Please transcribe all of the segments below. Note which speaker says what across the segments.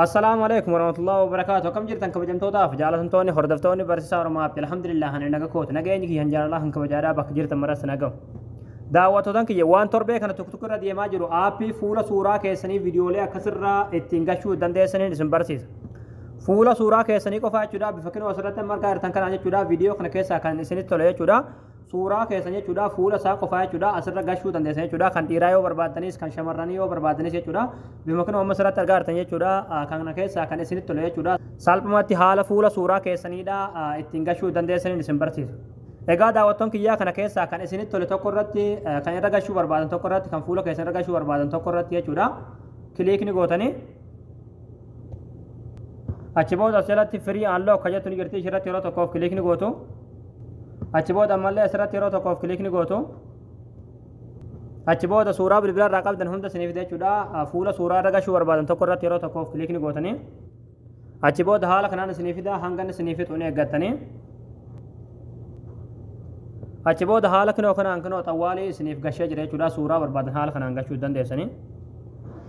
Speaker 1: Assalaamu alaikum warahmatullahi wabarakaatu akkam jirtan kabajamtootaaf jaalatamtoonni hordoftoonni barsiisaa Oromaaf alhamdulillah ani naga kooti nageenyi kiyya jaalalaa kan kabajaadhaa bakka jirtan maras nagahu. Daawwattootan kiyya waan torbee kana tokko tokko irra deemaa jiru aappii fuula suuraa keessanii viidiyoolee akkasirraa ittiin gachuu dandeessaniin isin barsiisa. Fuula suuraa keessanii qofaa jechuudha bifa kinoo asirratti amma argaa jirtan kanaa jechuudha viidiyoo kana keessaa kan isinitti tole jechuudha. suuraa keessan jechuudha fuula isaa qofaa jechuudha asirra gashuu dandeessan jechuudha kan dhiiraa yoo barbaaddanis kan shamarranii yoo barbaaddanis jechuudha bima kun amma asirratti argaa jirtan jechuudha kana keessaa kan isinitti tole jechuudha salphumatti haala fuula suuraa keessaniidha ittiin gashuu dandeessaniin isin barsiisa. Egaa daawwattoon kiyyaa kana keessaa kan isinitti tole tokko irratti kan irra gashuu barbaadan tokko irratti kan fuula keessan irra gashuu barbaadan tokko irratti jechuudha kiliikni gootanii achi booda as jalatti firii aanloo akka jettu ni jirti ishirratti yeroo tokkoof kiliikni gootu achi booda ammallee asirratti yeroo tokkoof kiliik ni gootu achi booda suuraa bilbila irraa qabdan hunda isiniif fida jechuudha fuula suuraa irra gashuu barbaadan tokko irratti yeroo tokkoof kiliik ni gootanii achi booda haala kanaan isiniif fida hangan isiniif fixu ni eeggattanii achi booda haala kinoo kanaan kinoo xawwaalii isiniif gashee jira jechuudha suuraa barbaadan haala kanaan gashuu dandeessanii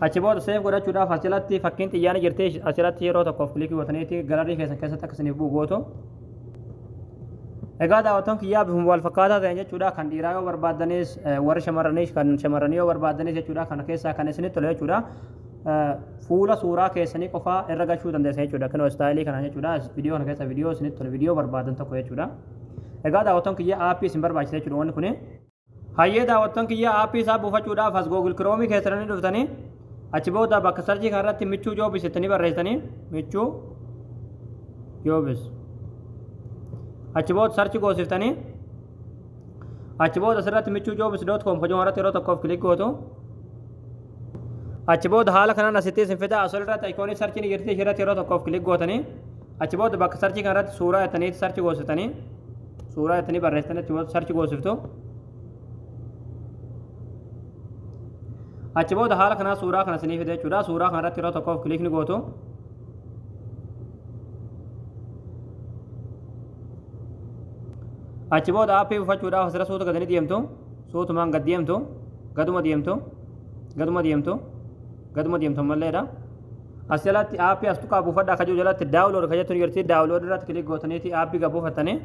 Speaker 1: achi booda seef godhachuudhaaf asirratti fakkiin xiyyaanii jirti asirratti yeroo tokkoof kiliikii gootaniiti galarii keessan keessatti akka isiniif bu'u gootu Egaa daawwattoon kiyyaa bifuma wal fakkaataa ta'een jechuudha kan dhiiraa yoo barbaaddanis warri shamarraniis kan shamarranii yoo barbaaddanis jechuudha kana keessaa kan isinitti tole jechuudha fuula suuraa keessanii qofaa irra gachuu dandeessa jechuudha kan istaayilii kana jechuudha viidiyoo kana keessa viidiyoo isinitti tole viidiyoo barbaaddan tokko jechuudha. Egaa daawwattoon kiyyaa aappii isin barbaachisa jechuudha wanni kuni. Hayyee daawwattoon kiyya aappii isaa buufachuudhaaf as Google Chrome keessanii dhuftanii achi booda bakka sarjii kanarratti michuu joobis jettanii barreessitanii michuu joobis achi booda sarchi goosiftanii achi booda asirratti michuu joobis doot koom hojii irratti yeroo tokkoof kilik gootu achi booda haala kanaan asitti isin fida asol irratti ayikoonii sarchiin jirti ishee irratti yeroo tokkoof kilik gootanii achi booda bakka sarchii kanarratti suuraa jettanii sarchi goositanii suuraa jettanii barreessitan achi booda sarchi goosiftu. Achi booda haala kanaa suuraa kana isinii fida jechuudha. Suuraa kana irratti yeroo tokkoof kiliikni gootu. Achi booda aappii buufachuudhaaf asirra suuta gadi ni deemtu. Suutumaan gad deemtu. Gaduma deemtu. Gaduma deemtu. Gaduma deemtu ammalleedha. As jalatti aappii as tuqaa buufadhaa akka jiru jalatti daawunlood kan jettu ni jirti. Daawunlood irratti kilik gootaniiti aappii gad buufattanii.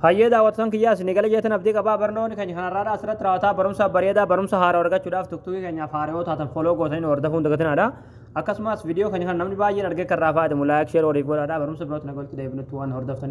Speaker 1: Hayyee daawwattoon kiyyaas ni gala jeetan abdii qabaa barnoonni keenya kanarraadha asirratti raawwataa barumsa bareedaa barumsa haaraa argachuudhaaf tuktuukii keenyaaf haaraa yoo taatan foloo gootanii nu hordofuun dagatinaadha. Akkasumas viidiyoo keenya kan namni baay'een argee kan irraa fayyadamu laayik sheer waliif godhaadha barumsa birootti na galchu deebinutti waan hordoftaniif.